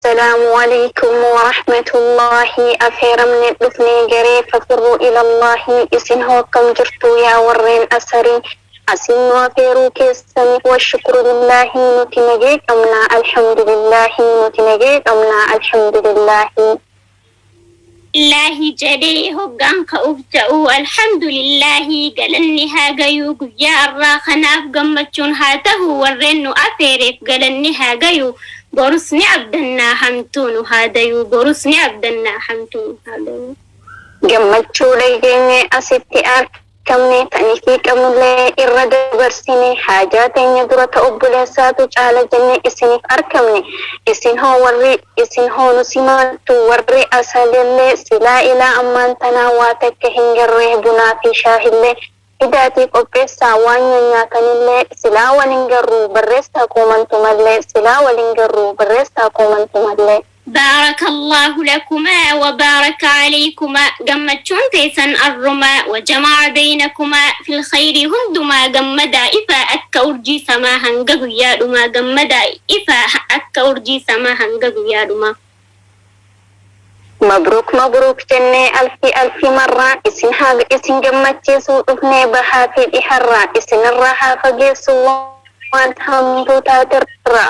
Asalaamu Aleykum Warahmatullaahi Afeeramne dhufne garee Fafirruu Ilallaahi Isin hoo akkam jirtu yaa warreen Asarii Asiin nu afeeruu keessaniif Washukuru Lillaahi Nuti nagee qabna Alhamdulillaahi Nuti nagee qabna Alhamdulillaahi Alhamdulillahi jedhee hoggaan ka'uuf ta'u Alhamdulillahi galanni haa gayuu guyyaa arraa kanaaf gammachuun haa tahu warreen nu afeereef galanni haa gayuu borus ni abdannaa hamtuu nu haa dayuu borus ni abdannaa hamtuu nu haa dayuu. Gammachuulee geenyee asitti argina. qabne tan isii qabnullee irra dabarsine haajaa teenya dura ta obboleessaatu caala jenne isiniif arkamne isin hoo warri isin hoo nu simaattu warri asalillee silaa ilaa ammaan tanaa waa takka hin garre bunaa fi shaahillee fidaatii qopheessaa waan nyanyaatanillee silaa wal hin garru barreessaa koomantumallee silaa wal hin garru barreessaa koomantumallee. Baarakallaahu lakumaa wa baaraka aleykumaa gammachuun teessan arrumaa wa jama'a beynakumaa fil kheyrii hundumaa gammadaa ifaa akka urjii samaa hanga guyyaa dhumaa gammadaa ifaa akka urjii samaa hanga guyyaa dhumaa. Mabruuk Mabruuk jennee alfii alfii marraa isin haa isin gammachiisuu dhufnee bahaa fi dhiharraa isinirraa haa fageessuu waan hamtuu taaterraa.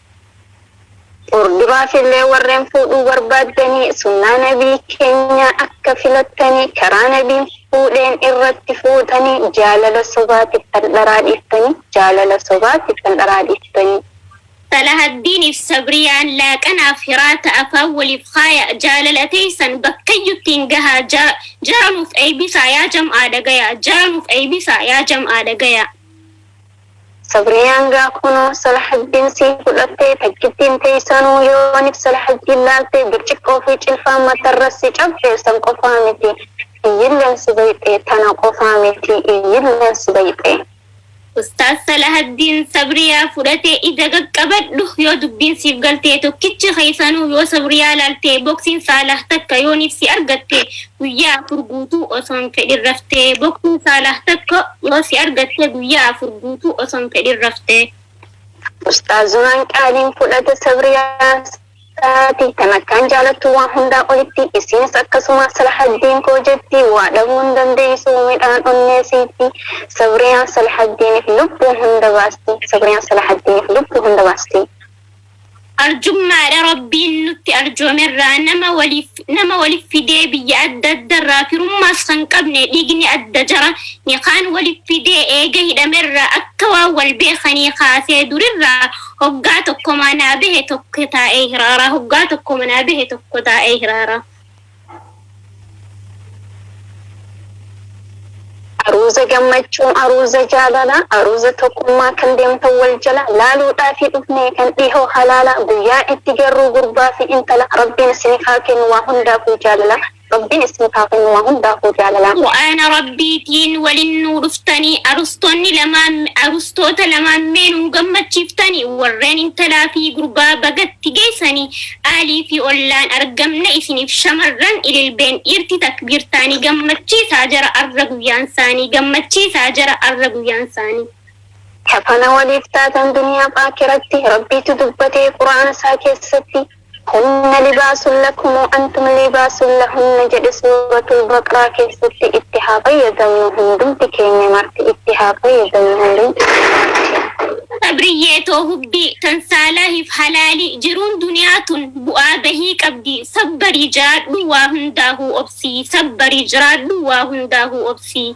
Furdubaafillee warreen fuudhuu barbaaddanii sunnaa nabii keenyaa akka filattanii karaa nabiin fuudheen irratti fuutanii jaalala sobaatiif kan dharaa dhiiftanii jaalala sobaatiif kan dharaa dhiiftanii. Salahaddiiniif Sabriyaan laaqanaaf hiraata afaan waliif kaaya jaalala teeysan bakkayyuttiin gahaa ja jara nuuf eeybisaa yaa jam'aa dhagayaa jara nuuf eeybisaa yaa jam'aa dhagayaa. Sabriyaan gaa kunoo Salahaddiin sii fudhattee takkittiin teessanuu yoonif Salahaddiin laaltee birciqqoo fi cilfaan matarra si cabxe san qofaa miti iyyilleen si bayxee tana qofaa miti iyyilleen si bayxee. Ustaaz Salahaddiin Sabriyaa fudhatee ija qaqqabadhu yoo dubbiin siif galtee tokkichi keessanuu yoo Sabriyaa laaltee boksiin Saalah takka yoonif si argatte Guyyaa afur guutuu osoo hin fedhin raftee bokkuun Saalaah tokko yoo si argatte guyyaa afur guutuu osoo hin fedhin raftee. Ustaazumaan qaaliin fudhata Sabriyaa isaati tan akkaan jaalattu waan hundaa olitti isiinis akkasuma Salahaddiin koo jetti waa dhabuu hin dandeeysu midhaan onnee siiti Sabriyaan Salahaddiinif lubbuu hunda baasti Sabriyaan Salahaddiinif lubbuu hunda baasti. Arjummaadha Rabbiin nutti arjoomerraa nama waliif nama waliif fidee biyya adda addarraa firummaas kan qabne dhiigni adda jara ni kaan waliif fidee eega hidhamerraa akka waan wal beekanii kaasee durirraa hoggaa tokko manaa bahe tokko taa'ee hiraaraa hoggaa tokko manaa bahe tokko taa'ee hiraaraa Aruuza gammachuu, aruuza jaalalaa, aruuza tokkummaa kan deemtan wal jala laaluudhaafii dhufne kan dhihoo halaala guyyaa itti garruu gurbaa fi intala Rabbiin isinif haa kennu waa hundaafuu jaalala Rabbiin isinif haa kennu waa hundaafuu jaalala. Qur'aana Rabbiitiin walin nuu dhuftani arustonni lamaan arustoota lamaan mee nuu gammachiiftani warreen intalaa fi gurbaa baga itti geessani qaalii fi ollaan argamna isiniif shamarran ililbeen dhiirti takbiirtaanii gammachiisaa jara arra guyyaansaanii gammachiisaa jara arra guyyaansaanii. Kafana waliif taatan duniyaaf aakiratti rabbiitu dubbate qur'aana isaa keessatti hunna libaasun lakum wa antum liibaasun lahunna jedhe suuratul baqraa keessatti itti haa fayyadamnu hundumti keenya marti itti haa fayyadamnu hundumti keenya marti. Sabriyyee too hubbii tan saalaahif halaalii jiruun duniyaa tun bu'aa bahii qabdii sabbarii jiraadhuu waa hundaahuu obsii sabbarii jiraadhuu waa hundaahuu obsii.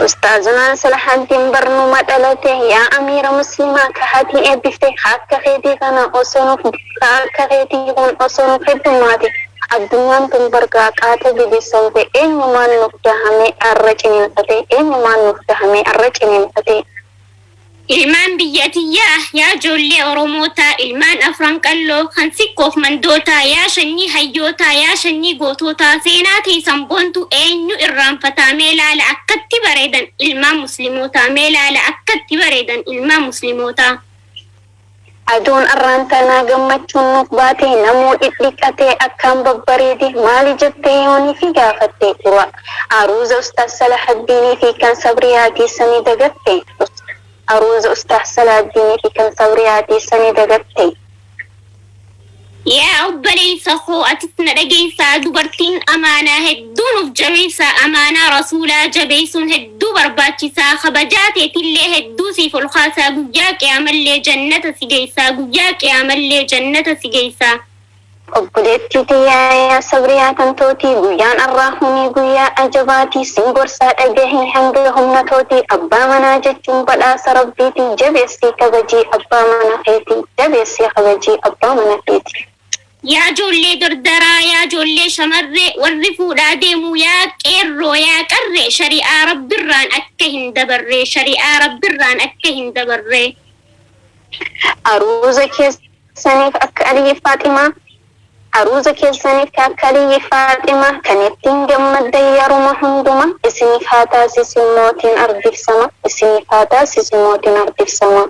Ustaazunaa Salahaddin Barnuma dhalate yaa Amiira Muslimaa ka hatii eebbifte ka akka keetii kana osoo nuuf Ka akka keetii kun osoo nu heddummaate addunyaan tun bar gaaqaatee bibisoomte eenyumaan nuuf dahamee arra ciniinfatee eenyumaan nuuf dahamee arra ciniinfatee. Ilmaan biyya tiyyaa yaa joollee oromootaa ilmaan afran qalloo kan sikkoof mandootaa yaa shanyii hayyootaa yaa shanyii gootootaa seenaa teeysan boontuu eenyu irraanfataa mee laala akkatti bareedan ilmaan muslimootaa mee laala akkatti bareedan ilmaan muslimootaa. Ajoon arraan tanaa gammachuun nuuf baatee namuu dhidhiqatee akkaan babbareede maali jettee yoon ifii gaafatte dura aruuza ustaaz salahaddini fi kan sabriyaatii sani dagatte ust aruuza ustaaz salaaddini fi kan sabriyaatii sani dagatte. Yaa obboleeysa koo atis na dhageeysaa dubartiin amaanaa hedduu nuuf jabeeysa amaanaa rasuulaa jabeeysuun hedduu barbaachisaa kabajaa teetillee hedduu siif ol kaasaa guyyaa qiyaamallee jannata si geeysaa guyyaa qiyaamallee jannata si geeysaa. Obboleettii tiyya yaa sabriyaa tan tootii guyyaan arraa hunii guyyaa ajabaatii sin gorsaa dhagahii hanga humna tootii abbaa manaa jechuun badhaasa rabbiitii jabeessii kabajii abbaa mana keetii. Jabeessii kabajii abbaa mana keetii. Yaa joollee dardaraa yaa joollee shamarree warri fuudhaa deemuu yaa qeerroo yaa qarree shari'aa rabbirraan akka hin dabarree shari'aa rabbirraan akka hin dabarree. Aruuza keessaniif akka Aliyyi Faaximaa Aruuza keessaniif ka akka Aliyyi Faaximaa kan ittiin gammaddan yeruma hundumaa isiniif haa taasisu mootiin ardiif sama isiniif haa taasisu mootiin ardiif sama.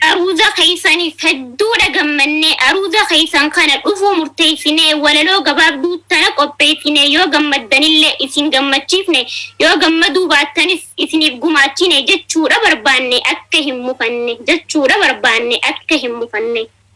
Aruuza keessaniif hedduudha gammanne. Aruuza keessan kana dhufuu murteessinee walaloo gabaabduu tana qopheessine. Yoo gammaddanillee isin gammachiifne, yoo gammaduu baattanis isiniif gumaachine jechuudha barbaanne akka hin mufanne jechuudha barbaanne akka hin mufanne.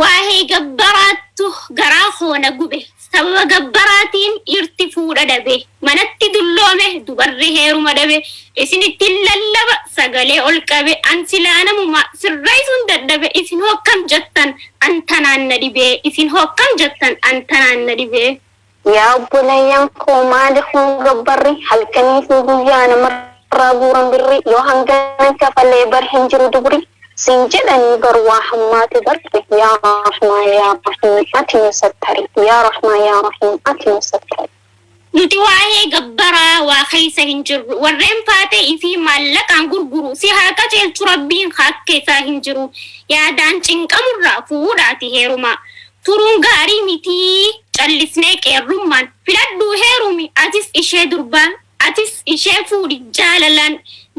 Waa'ee gabbaraattu garaa koo na gube. Sababa gabbaraatiin dhiirti fuudha dhabe. Manatti dulloome, dubarri heeruma dhabe. Isinittin lallaba, sagalee ol qabe. An silaa namuma, sirreessuun dadhabe. Isin hoo akkam jettan? An tanaan na dhibe. Isin hoo akkam jettan? An tanaan na dhibe. Yaa obboleeyyan koo maali kun gabbarri halkanii fi guyyaa namarraa guuran birri yoo hangana kafalee bar hin jiru dubri siin jedhanii bar waa hammaate barri yaa rahmaa yaa rahiim ati nu sattari yaa rahmaa yaa rahiim ati nu sattari. Nuti waa'ee gabbaraa waa keessa hin jirru warreen faatee ifii maallaqaan gurguru si haa qaceelchu rabbiin haakka isaa hin jiru yaadaan cinqamurraa fuudhaati heerumaa turuun gaarii miti callisnee qeerrummaan filadhuu heerumi atis ishee durbaa atis ishee fuudhi jaalalaan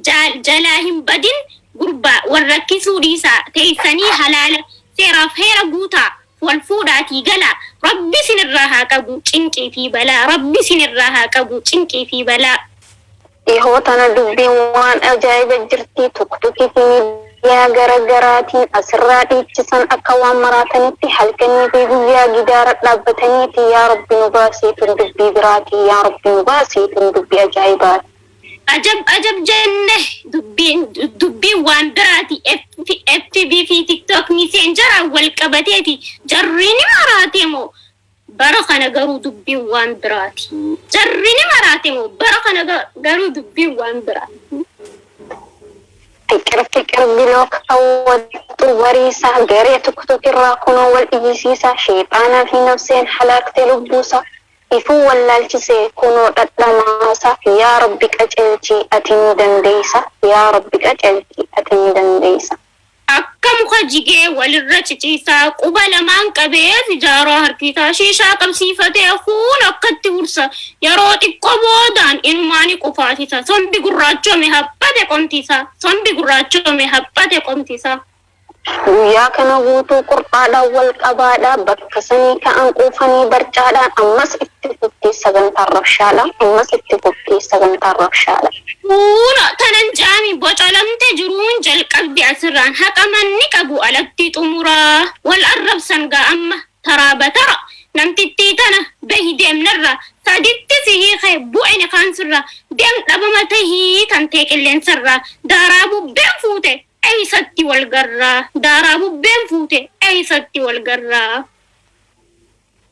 jaal jalaa hin badin gurbaa wal rakkisuu dhiisaa teessanii halaala seeraaf heera guutaa wal fuudhaatii galaa rabbi isin irraa haa qabu cinqii fi balaa rabbi isin irraa haa qabu cinqii fi balaa. Dhihoo tana dubbiin waan ajaa'iba jirtii tuktuki fi midiyaa gara garaatiin asirraa dhiichisan akka waan maraatanitti halkanii fi guyyaa gidaara dhaabbataniiti yaa rabbi nu baasii tun dubbii biraatii yaa rabbi nu baasii tun dubbi ajaa'ibaati. Ajab ajab jenne dubbiin dubbiin waan biraati fb fi tiktok messenger wal qabateeti jarri ni maraate moo Bara kana garuu dubbiin waan biraati. Jarri ni maraate moo? Bara kana garuu dubbiin waan biraati. Fiqir fiqir bilook kawwattu wariisaa garee tuktuk irraa kunoo wal iyyisiisaa sheexaanaa fi nafseen halaakte lubbuusaa ifuu wallaalchisee kunoo dhadhamaasaa yaa rabbi qaceelchii ati ni dandeeysa yaa rabbi qaceelchii ati ni dandeeysa. Akka muka jigee walirra ciciisaa, quba lamaan qabee sijaaraa harki isaa shiishaa qabsiifatee hafuun akkatti ursa. Yeroo xiqqoo boodaan inumaa ni qufaasisa. Sombi gurraachoome haphate qomti isaa. Sombi gurraachoome haphate qomti isaa. Guyyaa kana guutuu qur'aadhaan wal qabaadhaa, bakka sanii ka'an quufanii barcaadhaan ammas itti. Itti fuftee sagantaan rabshaadha. Ammas itti fuftee sagantaan rabshaadha. Kuuno tanan jaami bocolamte jiruun jalqabde asirraan haqa manni qabu alatti xumura wal arrabsan gaa amma taraa batara namtittii tana bahi deem narraa saditti si hiike bu'e nikaan sirraa deem dhabama tahi tantee qilleensarraa daaraa bubbeen fuute eeysatti wal garraa daaraa bubbeen fuute eeysatti wal garraa.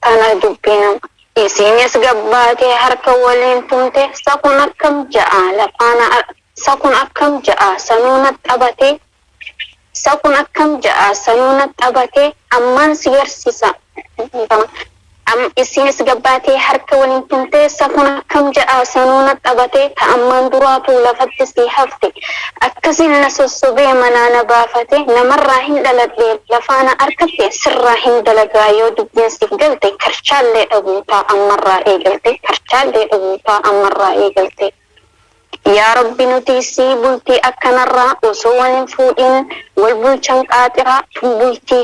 Tana dubbi nama. Isiinis gad baatee harka woliin tumte, sa kun akkam ja'aa lafaa na ar, sa kun akkam ja'aa sanuu na xabatee, sa kun akkam ja'aa sanuu na xabatee, ammaan si garsiisa, dhiifama, am, isiinis gad baatee harka woliin tumte, sa kun akkam ja'aa sanuu na xabatee, ta ammaan duraatuu lafatti sii hafte, Akkasiin na sossobee manaa na baafate namarraa hin dhaladhee lafaa na arkatte sirraa hin dalagaa yoo dubbiin siif galte karchaallee dhabuutaa ammarraa eegaltee karchaallee dhabuutaa ammarraa eegaltee Yaa rabbi nutii sii bultii akkanarraa osoo wal hin fuudhiin wal bulchan qaaxiraa tun bultii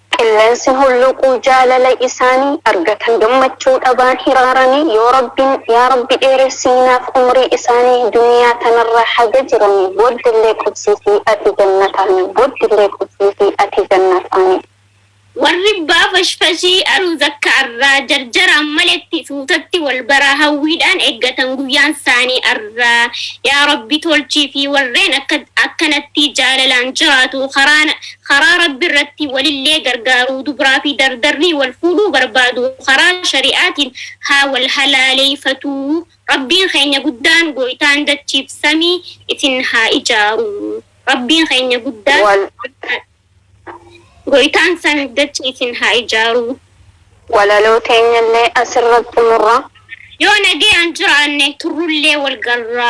Qillensi hulluuquu jaalala isaani argatan gammachuu dhabaan hiraarani yoo Rabbiin yaa Rabbi dheeressii naaf umrii isaani duniyaa tanarra haga jirani boddelle qubsiisi ati jannataani boddille qubsiisi ati jannataani. Warri bbaa fashfashii aruu zakka arraa jarjaraan maletti suutatti wal baraa hawwiidhaan eggatan guyyaan saanii arraa yaa rabbi tolchiifii warreen akka akkanattii jaalalaan jiraatuu karaa karaa Rabbi irratti walillee gargaaruu dubraa fi dardarrii wal fuudhuu barbaadu karaa shari'aatiin haa wal halaaleeyfatuu Rabbiin keenya guddaan gooytaan dachiif samii isin haa ijaaruu Rabbiin keenya guddaan Wal gooytaan samiif dachii isin haa ijaaruu. Walaloo teenyallee asirratti xumurra. Yoo nagayaan jiraanne turrullee wal garra.